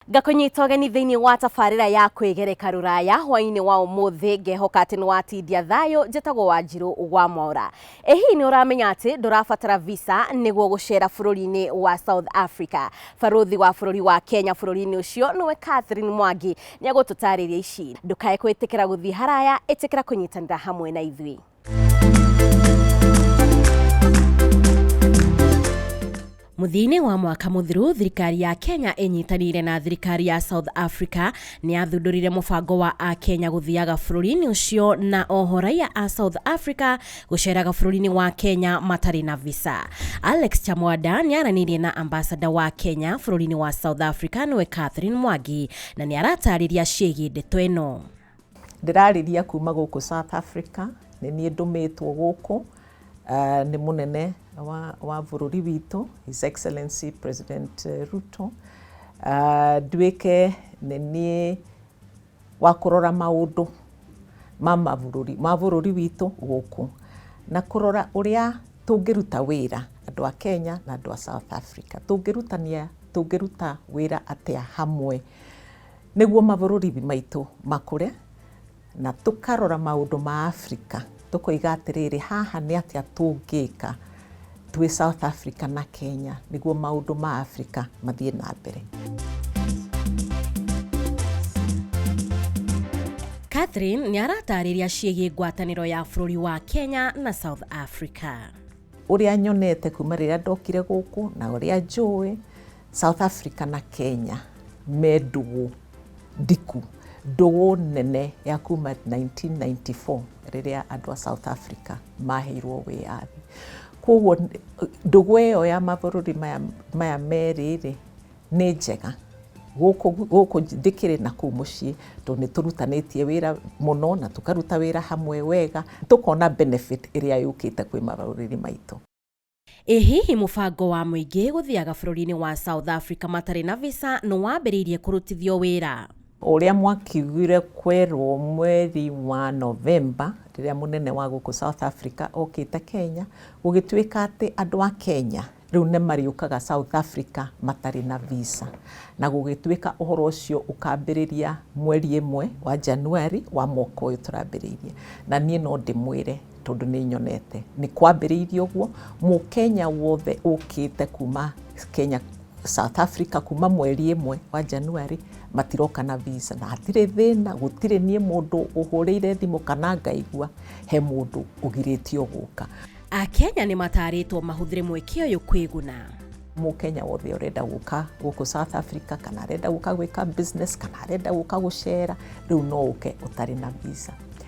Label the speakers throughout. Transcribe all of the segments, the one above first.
Speaker 1: ngakũnyita ũgeni thĩinĩ wa tabarĩra ya kwĩgereka rũraya hwainĩ wa ũmũthĩ ngehoka atĩ nĩ watindia thayũ njĩtagwo wanjirũ wa mwaũra Ĩ hihi nĩ ũramenya atĩ ndũrabatara visa nĩguo gũceera bũrũri-inĩ wa South Africa? Barũthi wa bũrũri wa Kenya bũrũri-inĩ ũcio nĩwe Catherine Mwangi nĩ egũtũtaarĩria ici. Ndũkae kwĩtĩkĩra gũthiĩ haraya, ĩtĩkĩra kũnyitanĩra hamwe na ithuĩ. Mũthia-inĩ wa mwaka mũthiru, thirikari ya Kenya ĩnyitanĩire na thirikari ya South Africa nĩ yathundũrire mũbango wa Akenya gũthiaga bũrũri-inĩ ũcio na oho raiya a South Africa gũceeraga bũrũri-inĩ wa Kenya matarĩ na visa. Alex Chamwada nĩ aranĩirie na ambasada wa Kenya bũrũri-inĩ wa South Africa nĩwe Catherine Mwangi na nĩ aratarĩria ciĩgiĩ ndeto ĩno. Ndĩrarĩria
Speaker 2: kuma gũkũ South Africa, nĩ niĩ ndũmĩtwo gũkũ nĩ mũnene wa wa bũrũri witũ His Excellency President Ruto, nduĩke nĩ niĩ wa kũrora maũndũ ma mabũrũri ma bũrũri witũ gũkũ, na kũrora ũrĩa tũngĩruta wĩra andũ a Kenya na andũ a South Africa, tũngĩrutania tũngĩruta wĩra atĩa hamwe. Nĩguo mabũrũri maitũ makũre na tũkarora maũndũ ma Africa tũkoiga atĩrĩrĩ, haha nĩ atĩa tũngĩka twĩ South Africa na Kenya nĩguo maũndũ ma Africa mathiĩ na mbere.
Speaker 1: Catherine nĩ aratarĩria ciĩgiĩ ngwatanĩro ya bũrũri wa Kenya na South Africa. Ũrĩa
Speaker 2: nyonete kuma rĩrĩa ndokire gũkũ na ũrĩa njũĩ South Africa na Kenya me ndũgũ ndiku, ndũgũ nene ya kuma 1994 rĩrĩa andũ a South Africa maheirwo wĩyathi. Koguo ndũgũ ĩyo ya mabũrũri maya, maya merĩ rĩ, nĩ njega gũkũ, gũkũ ndĩkĩrĩ na kũu mũciĩ tondũ nĩ tũrutanĩtie wĩra mũno na tũkaruta wĩra hamwe wega, tũkona benefit ĩrĩa yũkĩte kwĩ mabũrũri maitũ. Ĩ hihi
Speaker 1: mũbango wa mũingĩ gũthiaga bũrũri-inĩ wa South Africa matarĩ na visa nĩ wambĩrĩirie kũrutithio wĩra? Ũrĩa
Speaker 2: mwakiugire kwerwo mweri wa Novemba rĩrĩa mũnene wa gũkũ South Africa okĩte Kenya, gũgĩtuĩka atĩ andũ a Kenya rĩu nĩ marĩũkaga South Africa matarĩ na visa. Na gũgĩtuĩka ũhoro ũcio ũkambĩrĩria mweri ĩmwe wa January wa mwaka ũyũ tũrambĩrĩirie. Na niĩ no ndĩmwĩre tondũ nĩ nyonete nĩ kwambĩrĩirie ũguo, mũkenya wothe ũkĩte kuma Kenya, South Africa kuma mweri ĩmwe wa January matiroka na visa na hatirĩ thĩna, gũtirĩ niĩ mũndũ ũhũrĩire thimũ kana ngaigua he mũndũ ũgirĩtio gũka. Akenya nĩ
Speaker 1: mataarĩtwo mahũthĩre mweke ũyũ kwĩguna. Mũkenya
Speaker 2: wothe ũrenda gũka gũkũ South Africa kana arenda gũka gwĩka business kana arenda gũka gũcera, rĩu no ũke ũtarĩ na visa.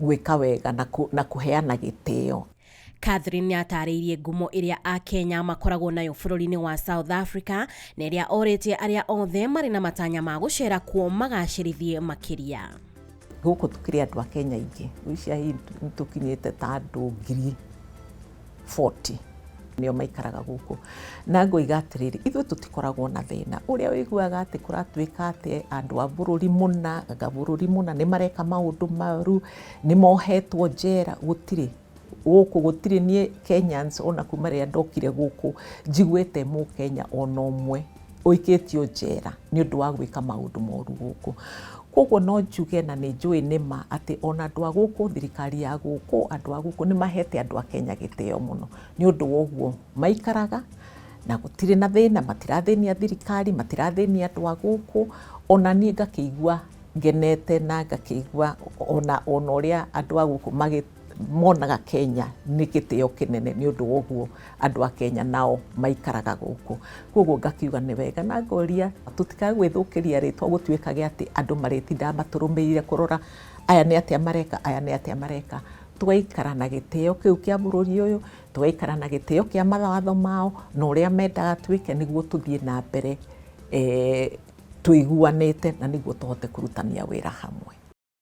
Speaker 2: gwĩka wega na kũheana gĩtĩo. Catherine nĩ
Speaker 1: aataarĩirie ngumo ĩrĩa Akenya makoragwo nayo bũrũri-inĩ wa South Africa na ĩrĩa orĩtie arĩa othe marĩ na matanya ma gũceera kuo magacĩrithie makĩria. Gũkũ
Speaker 2: tũkĩrĩ andũ a Kenya aingĩ, gwĩciria hihi nĩ tũkinyĩte ta andũ ngiri. 40 nĩo maikaraga gũkũ na ngoiga atĩrĩrĩ ithuĩ tũtikoragwo na thĩna ũrĩa ũiguaga atĩ kũratuĩka atĩ andũ a bũrũri mũna anga bũrũri mũna nĩ mareka maũndũ maru nĩ mohetwo njera gũtirĩ gũkũ gũtirĩ niĩ Kenyans ona kuma rĩrĩa ndokire gũkũ njiguĩte mũkenya ona ũmwe ũikĩtio njera nĩ ũndũ wa gwĩka maũndũ moru gũkũ. Kwoguo no njuge na nĩ njũĩ nĩ ma atĩ ona andũ a gũkũ, thirikari ya gũkũ, andũ a gũkũ nĩ mahete andũ a Kenya gĩtĩo mũno nĩ ũndũ wa ũguo maikaraga na gũtirĩ na thĩna, matirathĩnia thirikari, matirathĩnia andũ a gũkũ. Ona niĩ ngakĩigua ngenete na ngakĩigua ona ũrĩa andũ a gũkũ magĩ... monaga Kenya nĩ gĩtĩo kĩnene nĩ ũndũ wa ũguo andũ a Kenya nao maikaraga gũkũ. Kwoguo ngakiuga nĩ wega na ngoria tũtikae gwĩthũkĩria rĩtwa gũtuĩkage atĩ andũ marĩtindaga matũrũmĩrĩire kũrora aya nĩ atĩa mareka, aya nĩ atĩa mareka. Tũgaikara na gĩtĩo kĩu kĩa bũrũri ũyũ, tũgaikara na gĩtĩo kĩa mawatho mao na ũrĩa mendaga twĩke nĩguo tũthiĩ na mbere tũiguanĩte na nĩguo tũhote kũrutithania wĩra hamwe.